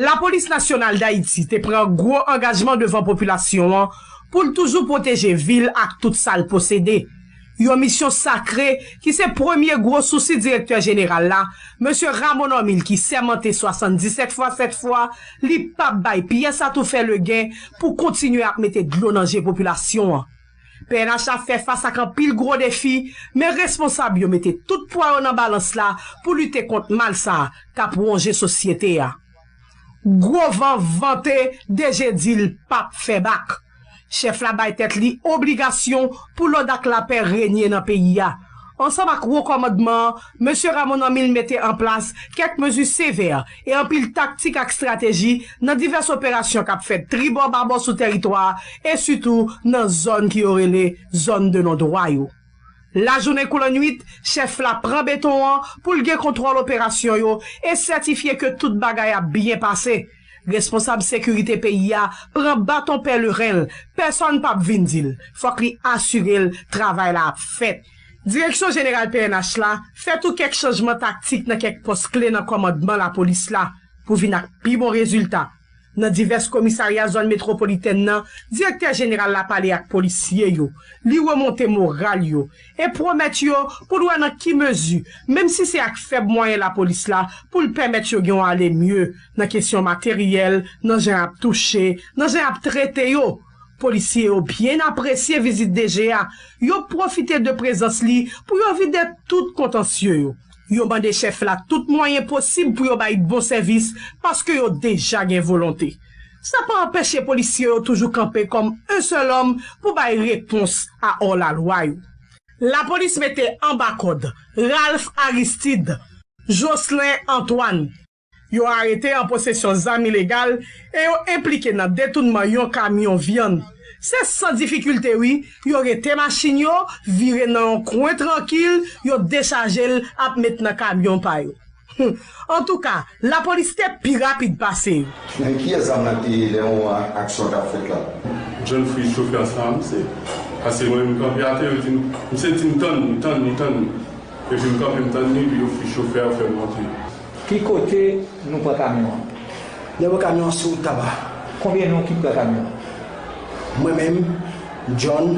Lapolis Nasyonal Dayiti te pran gwo angajman devan popilasyon an pou l toujou pwoteje vi l ak tout sa l posede, yon misyon sakre ki se premye gwo sousi Direktè Jeneral la, Mesye Rameau Normil ki sèmante 77 fwa 7 fwa li pap bay pyès atoufè legen pou kontinye ap mete dlo nan je popilasyon an. Pnh ap fè fas ak anpil gwo defi, men responsab yo mete tout pwa yo nan balans la pou lite kont mal sa k ap wonje sosyete a. Gwo van vante DG di l p ap fè bak. Chèf la bay tèt li obligasyon pou lòd ak lapè renye nan peyi a. Ansanm ak Wo Kòmandman an, Mesye Ramon an 1000 mete an plas kèk mezi sevè e anpil taktik ak strateji nan divès operasyon k ap fèt tribò babò sou tèritwa a e sitou nan zòn ki yo rele zòn de non dwa yo. Lajounen kou lannuit, chèf la pran beton an pou l gen kontwòl operasyon yo e sètifye ke tout bagay ap byen pase. Responsab sekirite peyi a pran baton pèleren l, pèsòn pap vin di l, fòk li asire l travay la ap fèt. Direksyon jeneral pnh la fè tou kèk chanjman taktik nan kèk pòs kle nan kòmandman lapolis la pou vin ak pi bon rezilta. Nan divès komisarya zòn metwopolitèn nan, direktè jeneral la pale ak polisye yo, li remonte moral yo e pwomèt yo pou l wè nan ki mezi, menm si se ak fèb mwayen lapolis la, pou l pèmèt yo gen yon ale mye nan kesyon materyèl, nan jan y ap touche, nan jan y ap trete yo. Polisye yo byen apresye vizit DG a, yo pwofite de prezans li pou yo vide tout kontansye yo. Yo mande chèf la tout mwayen posib pou yo bay bon sèvis paske yo deja gen volonte. Sa pa anpeche polisye yo toujou kanpe kòm un sèl òm pou bay repons a òr la lwa yo. Lapolis mete anba kòd Ralph Aristide, Jocelin Antoine. Yo arete an posesyon zam ilegal e yo enplike nan detounman yon kamyon vyann. Se san difikilte wi yo rete machin yo vire nan yon kwen trankil yo dechaje l ap met nan kamyon pa yo. Humm antouka lapolis te pi rapid pase yo. Men kiyès zam lan te ye lè yon aksyon tap fèt la. John Freeze chofè ansanm misye pase mwen menm kanpe atè yo dim misye dim tann li tann li tann li epi mkanpe mtann li epi yo freeze chofè yo fèm rantre. Ki kote nou pran kamyon an? Nèg yo pran kamyon an sou wout taba. Konbyen nou ki pran kamyon an? Mwen menm, John.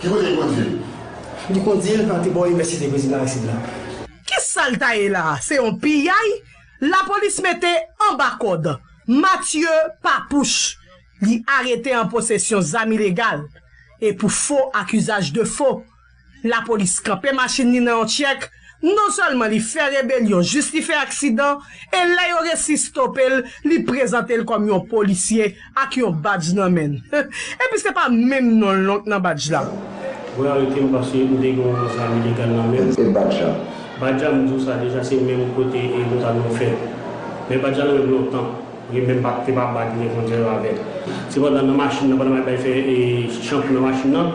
Ki kote li kondui l? Li kondui l antre bò Inivèsite Prezidan Aristide la. Ki sa l ta ye la a? Se yon piyay lapolis mete anba kòd. Mathieu Papouche, li arete an posesyon zam ilegal e pou fo ak uzaj de fo. Lapolis kanpe machin li nan yon tyèk. Non sèlman li fè rebelyon jis li fè aksidan e lè yo resi stope l li prezante l kòm yon polisye ak yon badj nan men l. Epi se pa menm non l non k nan badj la. Yo arete m paske m te gen yon zam ilegal nan men m. E badj la? Badj la m di w sa deja se menm kote e nou ta dwe fè l. Men badj la nan men m lontan. Li menm pa te pa bat revòlvè yo avè l. Sepandan nan machin nan pandan m ap bay fè e chanpou nan machin nan,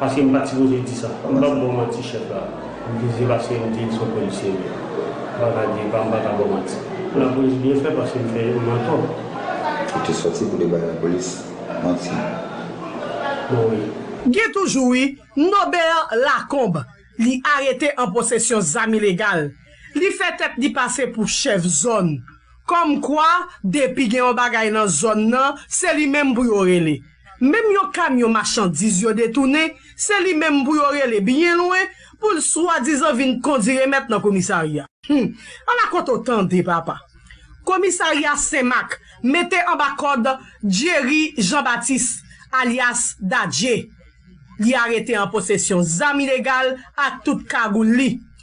Paske m pat sipoze di sa. M pap baw manti chèf la. M te di se paske m te son polisye m ye. M pa ka di epa m pa ka baw manti. Lapolis byen fè paske m fè m antò. Ou te sòti pou te bay lapolis manti. Bon wi. Gen toujou wi, Nobert Lacombe li arete an posesyon zam ilegal, li fè tèt li pase pou chèf zòn, kòmkwa depi gen yon bagay nan zòn nan se li menm pou yo rele. Menm yon kamyon machandiz yo detounen, se li menm pou yo rele byen lwen pou l swadizan vin kondi remèt nan komisarya. Hum! Ala kote w tande papa! Komisarya Senmak mete anba kòd Jerry Jean Baptiste alyas Dadje. Li arete an posesyon zam ilegal ak tout kagoul li.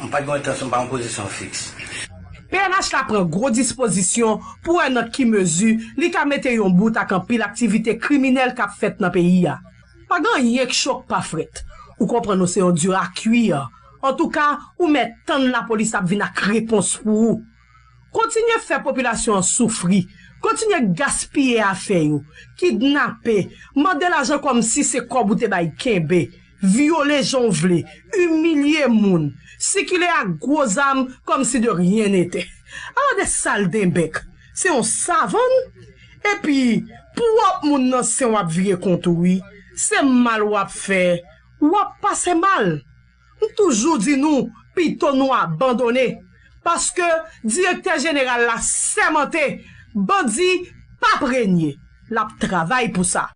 M pa t gen entansyon, m pa yon pozisyon fiks. Pnh la pran gwo dispozisyon pou wè nan ki mezi li ka mete yon bout ak anpil aktivite kriminèl k ap fèt nan peyi a. Pa gen anyen k cho k pa frèt. Ou konprann nou se yon dura cuire. Antouka, ou mèt tann lapolis ap vin ak repons pou ou. Kontinye fè popilasyon an soufri, kontinye gaspiye afè yo, kidnape, mande lajan kòmsi se kòb ou te bay kenbe, vyole jan w vle, imilye moun, sikile ak gwo zam kòmsi de ryen netè. Ala de saldenbèk! Se yon savann? Epi, pwòp moun nan sen w ap vire kont ou wi. Se mal w ap fè, w ap pase mal! M toujou di nou pito nou abandone paske direktè jeneral la sèmante bandi pap renye l ap travay pou sa.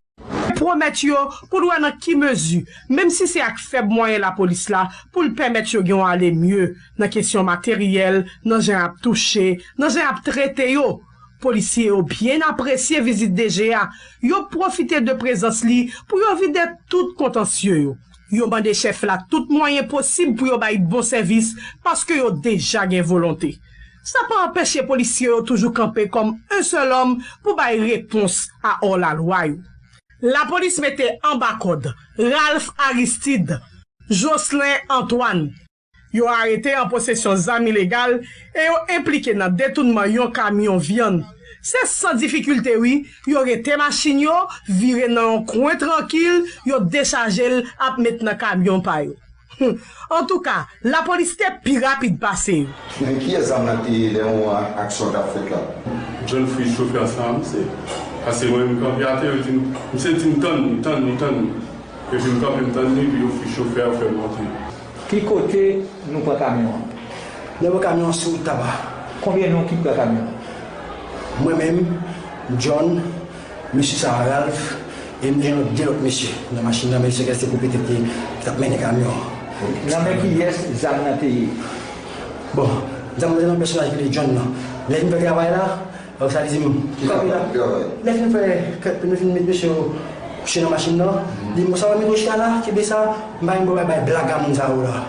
Pwomèt yo pou n wè nan ki mezi, menm si se ak fèb mwayen lapolis la, pou l pèmèt yo gen yon ale mye nan kesyon materyèl, nan jan y ap touche, nan jan y ap trete yo. Polisye yo byen apresye vizit DG a, yo pwofite de prezans li pou yo vide tout kontansye yo. Yo mande chèf la tout mwayen posib pou yo bay bon sèvis paske yo deja gen volonte. Sa pa anpeche polisye yo toujou kanpe kòm un seul homme pou bay repons a ò la lwa yo. Lapolis mete anba kòd Ralph Aristide, Jocelin Antoine. Yo arete an posesyon zam ilegal e yo enplike nan detounman yon kamyon vyann. Se san difikilte wi, yo rete machin yo, vire nan yon kwen trankil, yo dechaje l ap met nan kamyon pa yo. Hum! Antouka, lapolis te pi rapid pase yo. Men kiyès zam nan te ye lè moman an aksyon an t ap fèt la? John Fritz chofè sa a misye pase mwen m kanpe atè yo di m misye di m tann li tann li tann li epi m kanpe m tann li epi yo fri chofè a fè l rantre. Ki kote nou pran kamyon an? Nou pran kamyon an sou wout Taba. Konbyen nou ki pran kamyon an? Mwen menm, John, mesye sa a Ralph, e nou gen lòt de lòt mesye nan machin nan men yo sekeste pou petèt yo t ap mennen kamyon an. Nan men kiyès zam nan te ye? Bon, zam nan te nan pèsonaj ki rele John nan. Lè vin fè travay la, Donk sa vle di m ki kanpe la. Lè fin fè kèk nou fin met mesye yo kouche nan machin nan, li m ou sa wè micro chi a la, kenbe sa, m pa menm gen pou m al bay blaga moun sa yo la.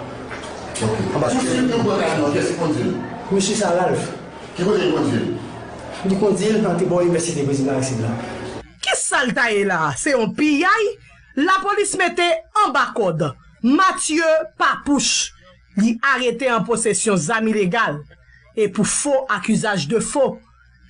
Pousuiv nou pran kay nou an, kiyès ki kondi l? Pousuiv sa Ralph. Ki kote li kondi l? Li kondi l antre bò inivèsite prezidan Aristide la. Ki sa l ta ye la a? Se yon piyay lapolis mete anba kòd. Mathieu Papouche. Li arete an posesyon zam ilegal e pou fo ak usage de faux.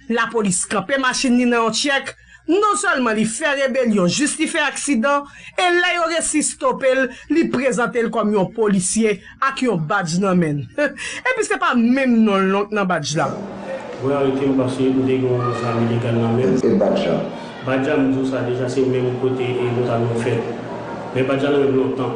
Lapolis kanpe machin li nan yon tyèk, non sèlman li fè rebelyon jis li fè aksidan e lè yo resi stope l, li prezante l kòm yon polisye ak yon badj nan men l. Epi se pa menm non l non k nan badj la. Mwen arete w paske m te gen yon zam ilegal nan men m. E badj la? Badj la m di w sa deja se menm kote e nou ta dwe fè l. Men badj la nan men m lontan.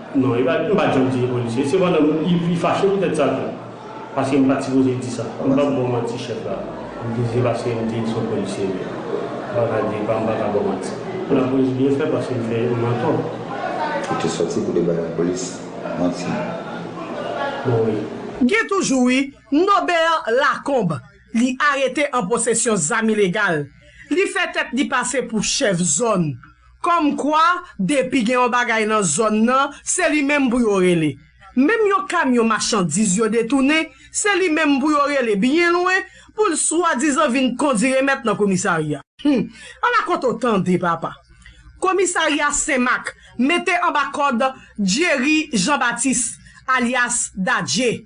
Non e pa m pa janm di e polisye sepandan m i fache poutèt sa tou paske m pat sipoze di sa m pap baw manti chèf la m di se paske m di l son polisye m ye m pa ka di m pa ka baw manti lapolis byen fè paske m fè m antò. Ou te sòti pou te bay lapolis manti? Bon wi. Gen toujou wi, Nobert Lacombe li arete an posesyon zam ilegal, li fè tèt li pase pou chèf zòn. Kòm kwa, depi gen yon bagay nan zòn nan, se li menm pou yo rele. Menm yon kamyon machandiz yo detounen, se li menm pou yo rele byen lwen pou l swadizan vin kondi remèt nan komisarya. Hum! Ala kont ou tande, papa! Komisarya Senmak mete anba kòd Jerry Jean Baptiste, alyas Dadje.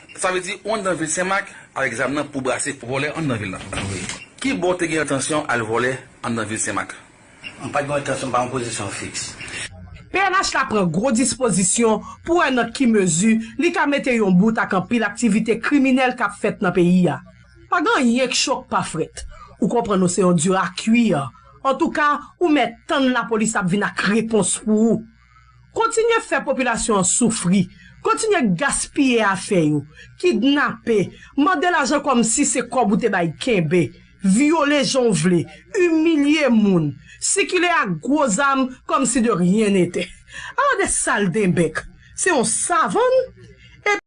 Sa vle di ou anndan vil Senmak avèk zam nan pou brase vòlè anndan vil la? Wi. Ki bò ou te gen entansyon al vòlè anndan vil Senmak? M pat gen yon entansyon, m pa yon pozisyon fiks. Pnh la pran gwo dispozisyon pou wè nan ki mezi li ka mete yon bout ak anpil aktivite kriminèl k ap fèt nan peyi a. Pa gen anyen k cho k pa frèt. Ou konprann nou se yon dur à cuire. Antouka, ou mèt tann lapolis ap vin ak repons pou ou. Kontinye fè popilasyon an soufri, kontinye gaspiye afè yo, kidnape, mande lajan kòmsi se kòb ou te bay kenbe, vyole jan w vle, imilye moun, sikile ak gwo zam kòmsi de ryen netè. Ala de saldebèk! Se yon savann! Epi.